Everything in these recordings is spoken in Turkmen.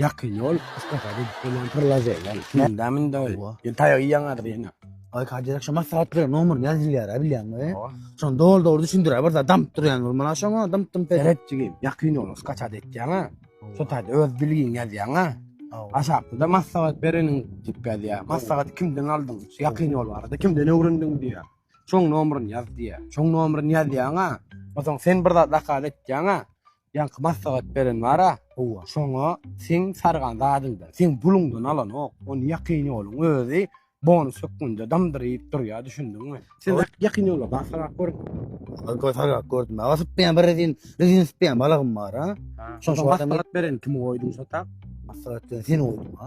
Ýakyn ýol Mustafa gidip gelen pyrlaze ýaly. Mendäm indi öý. Owa. Ýöne taýagy ýaňadyr ýene. Ay kaje akşam maslahat bilen nomer ýazylýar a bilýäňmi? Owa. Şony dol dol düşündirä bir zat damyp durýan bir mana şoňa dymp dymp edip. Seret jigim, ýakyn ýol kaçada etýäňä. Şu taýda öz bilgiň ýazýaňa. Owa. Aşakda da maslahat bereniň diýip ýazýar. Maslahaty kimden aldyň? Şu ýakyn ýol barada kimden öwrendiň diýýär. Şoň nomerini ýaz diýýär. Şoň nomerini ýazýaňa. Onsoň sen bir zat zakaz etýäňä. Ýaňky maslahat beren bar-a, howwa, şoňa seň sargan zadyňdan, seň buluňdan alanok, ony ýakyn ýoluň özi bonus hökmünde damdyr iýip durýar, düşündiňmi? Sen ýakyn ýola bar sargap gördüňmi? Göz sargap gördüm. Aga sypmaýan bir rezin, rezin sypýan balagym bar-a. Şoňa maslahat bereni kime goýduň şo tak? Maslahat bereni seni goýdum-a.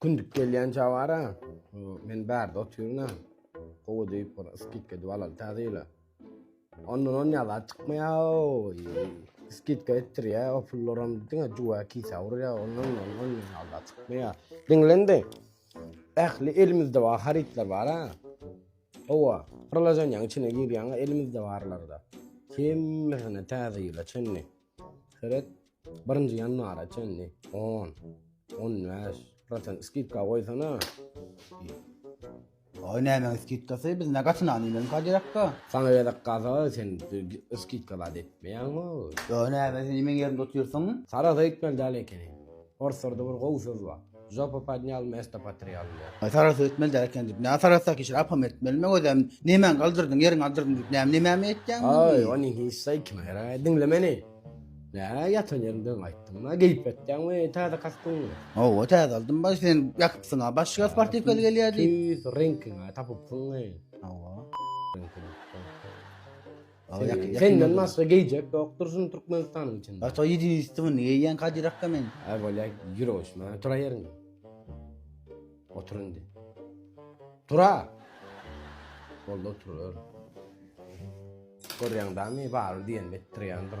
Kündük gelýän jabara. Men bärde otyryn-a. Gowy diýip bir skitka edip alaly täze ýyla. Ondan on ýazat çykmaýar-ow. Skitka etdirýär, o pullaram diňe juwa kisa urýar, ondan on on ýazat çykmaýar. Diňlendi. Ähli elimizde bar harytlar bar-a. Hawa, prilojeniýaň içine girýäň-a elimizde barlar-da. Hemmesini täze ýyla çenli. Seret, birinji ýanwara çenli on, on bäş prosent skidka goýsana. Oý näme skidkasy biz ne gatyny alýan kadyrakka. Sana gezek gaza sen skidka zat etmeýäň o. Yo näme sen meň ýerimde otyrsyň? Sarasa gitmeli däl ekeni. Orslarda bir gowy söz bar. Žopa podnyal mesto potrýal diýýär. Aý sarahsa ötmeli däl eken diýip. Nä sarahsa ki şir apam etmeli meň özem nemäň galdyrdyň ýeriň galdyrdyň diýip näme nemämi etýäň indi. Aý ony hiç zaý kime geregaý diňle meni. Nä ýatan ýeriňden gaýtdyň ma geýip ýatýaňmy täze kastyňmy. Hawa täze aldym baý sen ýakypsyňa başga sportiwkaly gelýär diýip. Tüýs reňkiňä tapypsyňmy. Hawa. Senden başga geýjek ýokdur şuny Türkmenistanyň içinde. Ata ýedi üstümi niýe ýeň kadyrak da men. Ay bolya ýür oşma tura ýeriňde. Otur indi. Tura. Bolda otur ör. Görýäň dami bar diýen etdirýändir.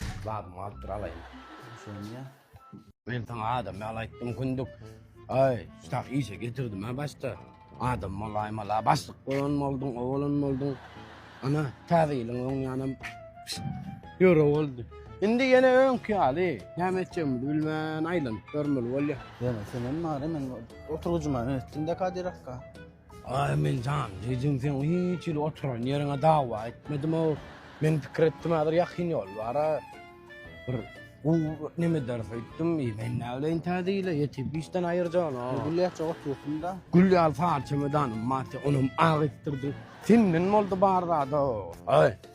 Seniň zadyňy alyp bir alaýyn. Düşünýän. Men saňa adam ýaly aýtdym kündük. Aý, ştah işe getirdim-ä başda. Adam bolaýmala, başlyk bolan bolduň, o bolan bolduň. Ana, täze ýylyň öň ýanam ýöre boldy. Indi ýene öňki ýaly, näme etjegimizi bilmän aýlanyp ýörmeli bolýar. Ýöne senem bar-a, men oturgyjyma öýtdüm-de Kadyr akga. Amin jan jigim seň hiç hili oturan ýeriňe dawa etmedimow men pikir etdim häzir ýakyn ýol bara bir gowy neme ederis öýtdüm i men näbileýin täzile ýetip işden aýyrjana gülläçe otursyňda gül ýaly sary çemedanym bar onam ak etdirdim senden boldy bar zada oý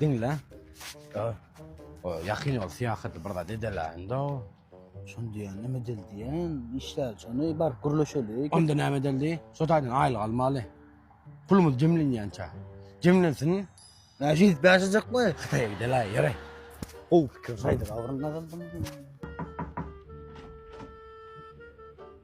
Diňle. Ýakyn ol syýahaty bir zat edeläýiň-de. Şony diýýän, näme edeli diýýän? Işläli şony, baryp gürleşeli. Onda näme edeli? Şo taýdan aýlyk almaly. Pulumyz jemlenýänçä. Jemlensin. Näçe ýetip ýaşajakmy? Hytaýa gideläý, ýöre. Gowy pikir, şaýdyr abryn nazardan.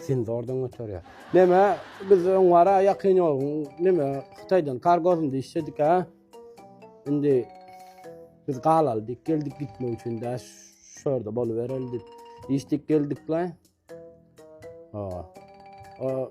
Senzordan göterýär. Neme, biz öň wara ýakyn ýoluň neme Hytaýdan kargosyny diýişedik ha. Indi biz galaly diýip geldik gitmek üçin dä şu ýerde bolubereli diýip. Diýişdik geldik la. O. O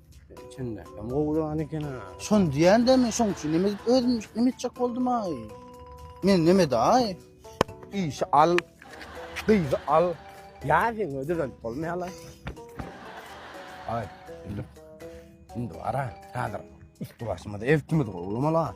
Üçünde. Hem gowuda an eken ha. Şon diýen de men şoň üçin neme özüm neme etjek boldum ay. Men neme de ay. Işi al. Gyzy al. Ya sen öde dön bolmy hala. Ay. Şimdi ara. Hazır. Üstü başımda ev kimi de gowulmalar.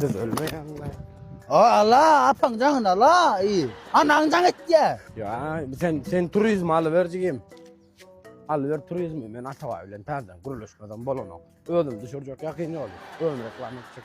Biz ölmeýäňmi? O ala, apaň jaňyn ala. Iý. Anaň jaň etýä. Ya sen sen turizm alıver jigim. Alıver turizmi. Men Atabay bilen täzeden gürleşmeden bolanok. Özüm düşürjek ýakyn ýoly. Özüm reklama etjek.